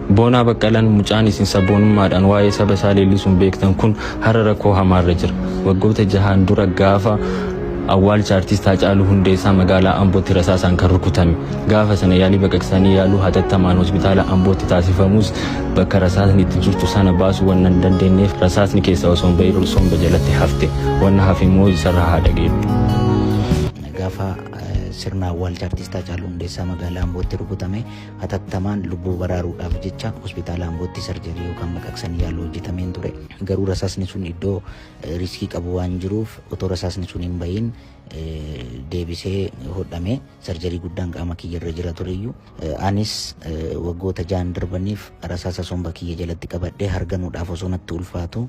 Boonaa Baqqalaan mucaan isin sabboonummaadhaan waa'ee saba isaa leellisuun beektan kun har'a rakkoo hamaarra jira. Waggoota jahaan dura gaafa awwaalcha Artiist Haacaaluu Hundeessaa magaalaa Ambootti rasaasaan kan rukutame. Gaafa sana yaalii baqaqsanii yaaluu hatattamaan hospitaala Ambootti taasifamus bakka rasaasni itti jirtu sana baasuu wanna hin dandeenyeef rasaasni keessaa osoo hin ba'iin somba jalatti hafte. Wanna hafe immoo isarraa haa dhageenyu. Gaafa sirna awwaalcha Artiist Haacaaluu Hundeessaa magaalaa Ambootti rukutame Hatattamaan lubbuu baraaruudhaaf jecha hospitaala Ambootti sarjarii yookaan baqaqsanii yaaluu hojjetameen ture. Garuu rasaasni sun iddoo riskii qabu waan jiruuf otoo rasaasni sun hin bahin deebisee hodhame sarjarii guddaan qaama kiyya irra jira tureyyuu anis waggoota ja'an darbaniif rasaasa somba kiyya jalatti qabadhee harganuudhaaf osoo natti ulfaatu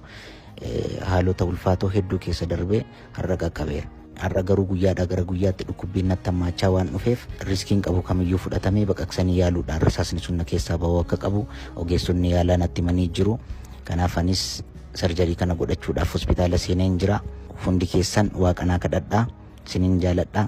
haalota ulfaatoo hedduu keessa darbe har'a qaqqabeera. Har'a garuu guyyaadhaa gara guyyaatti dhukkubbiin natti hammaachaa waan dhufeef riskiin qabu kamiyyuu fudhatamee baqaqsanii yaaluudhaan rasaasni sun na keessaa ba'uu akka qabu ogeessonni yaalaa natti himanii jiru. Kanaaf anis sarjarii kana godhachuudhaaf hospitaala seeneen jira. Hundi keessan waaqanaa kadhadhaa. Sinin jaaladha.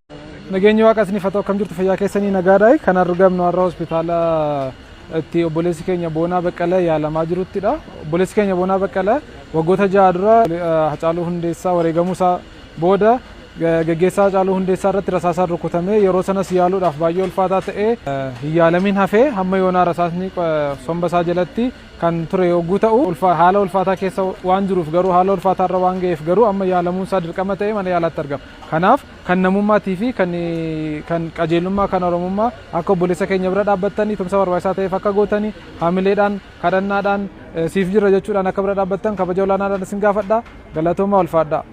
Nageenyi waaqa isiniif haa ta'u akkam jirtu fayyaa keessanii nagaadha. Kan argamnu har'a hospitaala itti obboleessi keenya Boonaa Baqqalee yaalamaa jiruttidha. Obboleessi keenya Boonaa Baqqalee waggoota ja'a dura Hacaaluu Hundeessaa wareegamuu isaa booda gaggeessaa Hacaaluu Hundeessaa irratti rasaasaan rukutamee yeroo sanas yaaluudhaaf baay'ee ulfaataa ta'ee hin yaalamiin hafee hamma yoonaa rasaasni somba isaa jalatti kan ture yogguu ta'u haala ulfaataa keessa waan jiruuf garuu haala ulfaataa irra waan ga'eef garuu amma yaalamuun isaa dirqama ta'ee mana yaalaatti argama. Kanaaf kan namummaati fi kan kan qajeelummaa kan Oromummaa akka obboleessa keenya bira dhaabbattanii tumsa barbaachisaa ta'eef akka gootanii hamileedhaan kadhannaadhaan siif jirra jechuudhaan akka bira dhaabbattan kabaja olaanaadhaan isin gaafadha. Galatoomaa ulfaadhaa.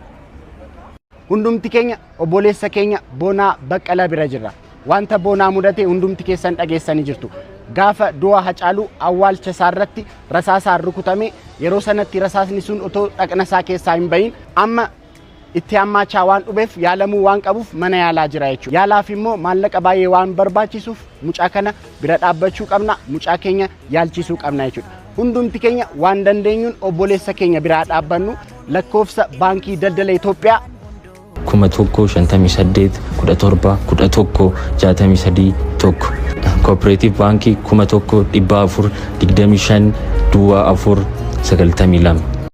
Hundumti keenya obboleessa keenya Boonaa Baqqalaa bira jirra. Wanta Boonaa mudate hundumti keessan dhageessanii jirtu. Gaafa du'a Hacaaluu awwaalcha isaa irratti rasaasaan rukutame yeroo sanatti rasaasni sun otoo dhaqna isaa keessaa hin bahin amma itti hammaachaa waan dhubeef yaalamuu waan qabuuf mana yaalaa jira jechuudha. Yaalaaf immoo maallaqa baay'ee waan barbaachisuuf mucaa kana bira dhaabbachuu qabna, mucaa keenya yaalchisuu qabna jechuudha. Hundumti keenya waan dandeenyuun obboleessa keenya biraa dhaabbannu lakkoofsa baankii daldala Itoophiyaa kuma tokko shantamii saddeet kudha torba kudha tokko jaatamii sadii tokko kooperaatiif baankii kuma tokko dhibba afur digdamii shan duwwaa afur sagaltamii lama.